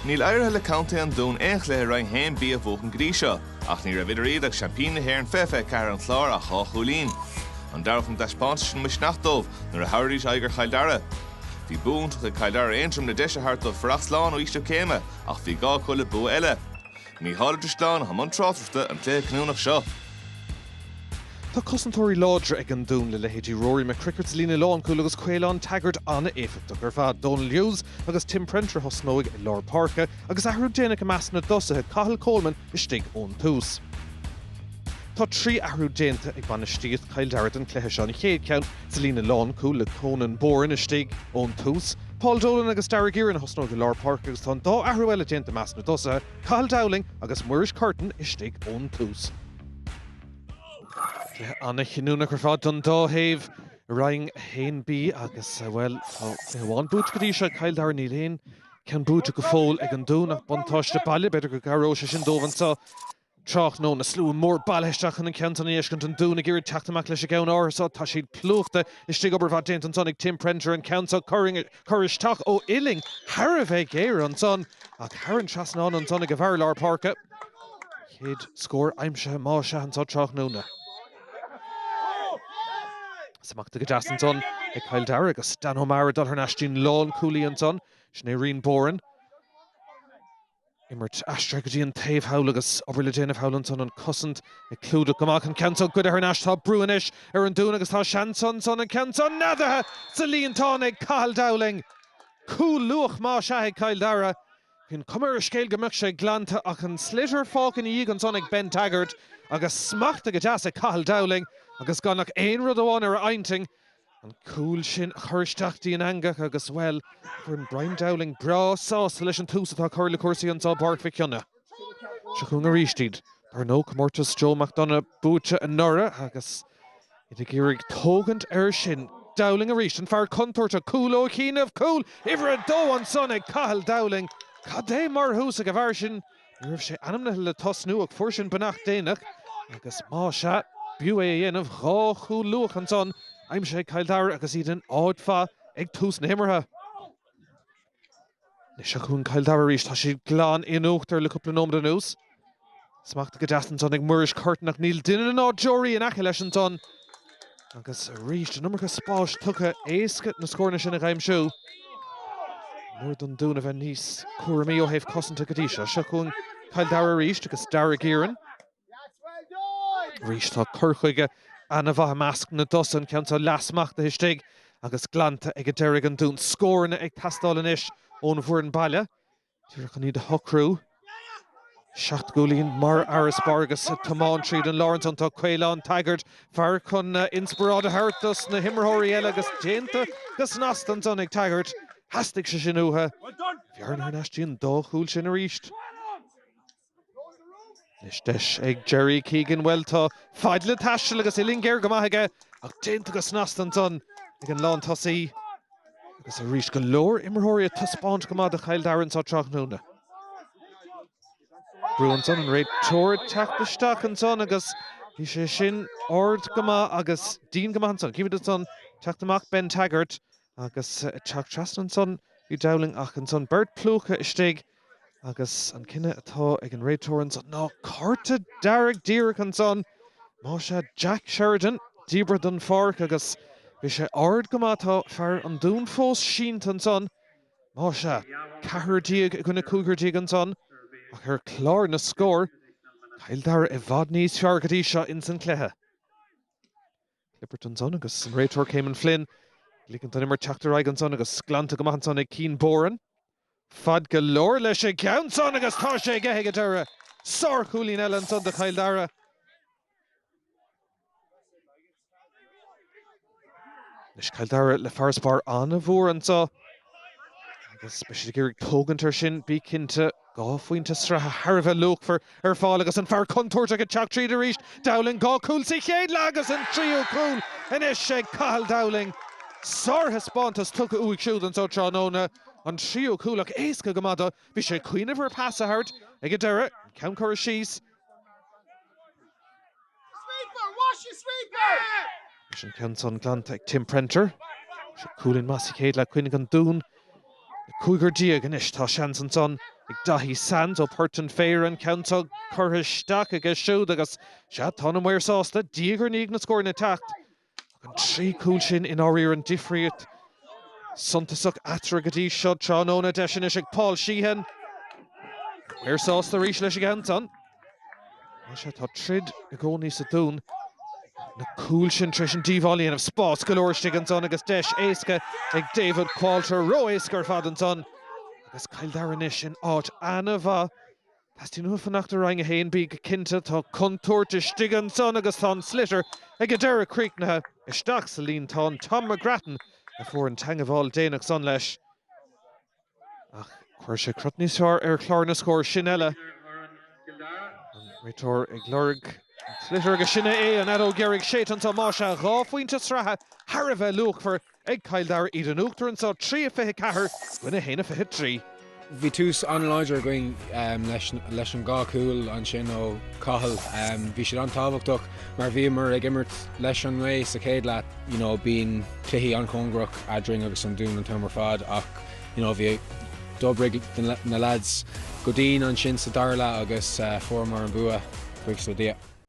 Níl éirithe le Contae an Dúin aon chluiche Roinn 1B a bhuachan go dtí seo, ach ní raibh idir iad agus seaimpíní na hÉireann 2024 an Chlár ach dhá chúilín. An dtabharfadh an taispeántas sin misneach dóibh nuair a thabharfaidís aghaidh ar Chill Dara? Bhí bua iontach ag Cill Dara ar Aontroim le deis a thabhairt dóibh fuireach slán ó ísliú céime ach bhí gá acu le bua eile. Mícheál Ó Drisleáin atá i mbun tráchtaireachta an cluiche cinniúnach seo. Tá cosantóirí láidre ag an Dún le leithéidí Ruairí McCrickard sa líne lánchúil agus Caolán Taggart an-éifeachtach ar fad. Dónal Hughes agus Tim Prenter a thosnóidh i lár páirce agus athrú déanach i measc na dtosaithe, Cathal Coleman istigh ón tús. Tá trí athrú déanta ag bainistíocht Chill Dara don chluiche seo, an chéad cheann, Sa líne lánchúil le Conan Boran istigh ón tús, Paul Dolan agus Daire Guerin a thosnóidh i lár páirce agus tá an dá athrú eile déanta i measc na dtosaithe, Cathal Dowling agus Muiris Curtin istigh ón tús. Cluiche an-chinniúnach ar fad don dá thaobh i Roinn 1B agus, bhuel, tá cluiche amháin buaite go dtí seo ag Cill Dara, níl aon cheann buaite go fóill ag an Dún ach buntáiste baile, b'fhéidir go gcabhróidh sé sin dóibh anseo. Tráthnóna, slua mór bailithe isteach chun an cheantair i ndeisceart an Dúin ag iarraidh teacht amach leis an gceann áirithe seo. Tá siad plúchta istigh. Obair mhaith déanta ansan ag Tim Prenter. An ceann seo curtha isteach ó uillinn thar a bheith géar ansan ach thar an trasnán ansan ag a bhfear lár páirce. Chéad scór aimsithe más ea anso tráthnóna. Smachtaithe go deas ansan ag Cill Dara agus Dan O'Meara ag dul thar n-ais dtí'n lán-chúlaí ansan. Sin é Rian Boran. imirt, aistrithe go dtí an taobh thall agus obair le déanamh thall ansan, an cosaint ag clúdach go maith an ceann seo, goidte thar n-ais, tá brú anois ar an Dún agus tá seans ansan, an ceann seo neadaithe sa líontán ag Cathal Dowling. Cúl luath más ea ag Cill Dara. Bhí an cuma ar an scéal go mbeadh sé glanta ach an sliotar fágtha ina dhiaidh ansan ag Ben Taggart agus smachtaithe go deas ag Cathal Dowling agus gan ach aon rud amháin ar a intinn, An cúl sin a chur isteach go dtí an eangach agus, bhuel, foireann Brian Dowling breá sásta leis an tús atá curtha le cúrsaí anseo i bPáirc Mhic Cionnaith. Seo chugainn arís iad. Dar ndóigh, comórtas Joe McDonagh buaite anuraidh agus iad ag iarraidh tógaint air sin. Dowling arís, an fear contúirteach, cúl ó chianaibh, cúl uimhir a dó ansan ag Cathal Dowling. Cad é mar thús ag an bhfear sin. Ní raibh sé ainmnithe le tosnú ach fuair sé an bheannacht déanach agus más ea, b'fhiú é a dhéanamh. Dhá chúl luath ansan aimsithe ag Cill Dara agus iad in áit mhaith ag tús na himeartha. Anois seo chugainn Cill Dara arís. Tá siad glan in uachtar le cúpla nóiméad anuas. Smachtaithe go deas ansan ag Muiris Curtin ach níl duine ná deoraí in aice leis ansan. Agus arís, an iomarca spáis tugtha. Éasca na scóranna sin a aimsiú. Ní mór don Dún a bheith níos cúramaí ó thaobh cosanta go dtí seo. Seo chugainn Cill Dara arís agus Dara Guerin. Arís tá cur chuige ana-mhaith i measc na dtosaithe, ceann so leath-smachtaithe istigh agus glanta ag an deiridh ag an Dún. Scóranna ag teastáil anois ón bhfoireann baile. Díreach in iad a shocrú. Seacht gcúilín mar fharasbarr agus tiomáint tríd an lár ansan tá Caolán Taggart fear chun inspioráid a thabhairt dos na himreoirí eile agus déanta go snasta ansan ag Taggart. Theastaigh sé sin uathu. Bearna anois síos go dhá chúilín arís. Anois deis ag Gerry Keegan, bhuel tá fad le taisteal agus uillinn géar go maith aige ach déanta go snasta ansan ag an lán tosaí agus arís go leor imreoirí ag taispeáint go maith do Chill Dara anso tráthnóna. Brú ansan an réiteoir ag teacht isteach ansan agus bhí sé sin ard go maith agus dian go maith ansan. Chímíd ansan teacht amach Ben Taggart Agus ag teacht trasna ansan bhí Dowling ach ansan beirt plúchadh istigh agus an cinneadh atá ag an réiteoir ansan ná cárta dearg díreach ansan. Más ea Jack Sheridan díbeartha den pháirc agus bhí sé ard go maith tá fear an Dúin fós sínte ansan. Más ea, ceathrar déag i gcoinne cúigear déag ansan ach ar chlár na scór, Cill Dara i bhfad níos fearr go dtí seo insan cluiche. Clipperton ansan agus an réiteoir Caymon Flynn. Ligint an imirt teacht ar aghaidh ansan agus glanta go maith ansan ag Cian Boran. Fad go leor leis an gceann san agus tá sé aige ag an deireadh. Sárchúilín eile ansan do Chill Dara. Anois Cill Dara le farasbarr an-mhór anseo. Agus beidh siad ag iarraidh tógaint ar sin, bí cinnte. Dhá phointe sraithe thar a bheith luachmhar ar fáil agus an fear contúirteach ag teacht tríd arís. Dowling, dhá chúl sa chéad leath agus an tríú cúl anois é Cathal Dowling. Sárthaispeántas tugtha uaidh siúd anso tráthnóna. An tríú cúl ach éasca go maith do. Bhí sé ag cuimhneamh ar phas a thabhairt ag an deireadh, an ceann curtha síos. Leis an ceann san glanta ag Tim Prenter. Seo cúilín, más ea, céard le cuimhneamh an Dún cúigear déag anois. Tá seans ansan ag Daithí Sands ó Port an Phéire an ceann seo curtha isteach aige siúd agus, sea, tá na maoir sásta diaidh ar ndiaidh na scóranna ag teacht. Ach an trí cúl sin i ndáiríre an difríocht suntasach eatarthu go dtí seo tráthnóna. Deis anois ag Paul Sheehan. Maoir sásta arís leis an gceann san. Más ea tá troid i gcónaí sa Dún. Na cúil sin tar éis an díobháil a dhéanamh. Spás go leor istigh ansan agus deis éasca ag David Qualter. Ró-éasca ar fad ansan agus Cill Dara anois in áit ana-mhaith. Teastaíonn uathu fanacht i Roinn 1B go cinnte. Tá contúirt istigh ansan agus tá an sliotar ag an deireadh críochnaithe isteach sa líontán. Tom McGrattan a fuair an teangabháil déanach san leis. Ach chuir sé crot níos fearr ar chlár na scór. Sin uile. An réiteoir ag lorg an tsliotair agus sin é é. An fheadóg dheiridh séidte anso. Más ea, dhá phointe sraithe thar a bheith luachmhar. ag Cill Dara iad in uachtar anso trí a fiche ceathair i gcoinne a haon a fiche trí. Bhí tús an-láidir againn leis an dhá chúl ansin ó Cathal. Bhí siad an-tábhachtach mar bhíomar ag imirt leis an ngaoth sa chéad leath. You know bíonn cluichí an-chóngarach eadrainn agus an Dún an t-am ar fad ach you know bhí d'oibrigh na lads go dian ansin sa dara leath agus fuaireamar an bua, buíochas le Dia.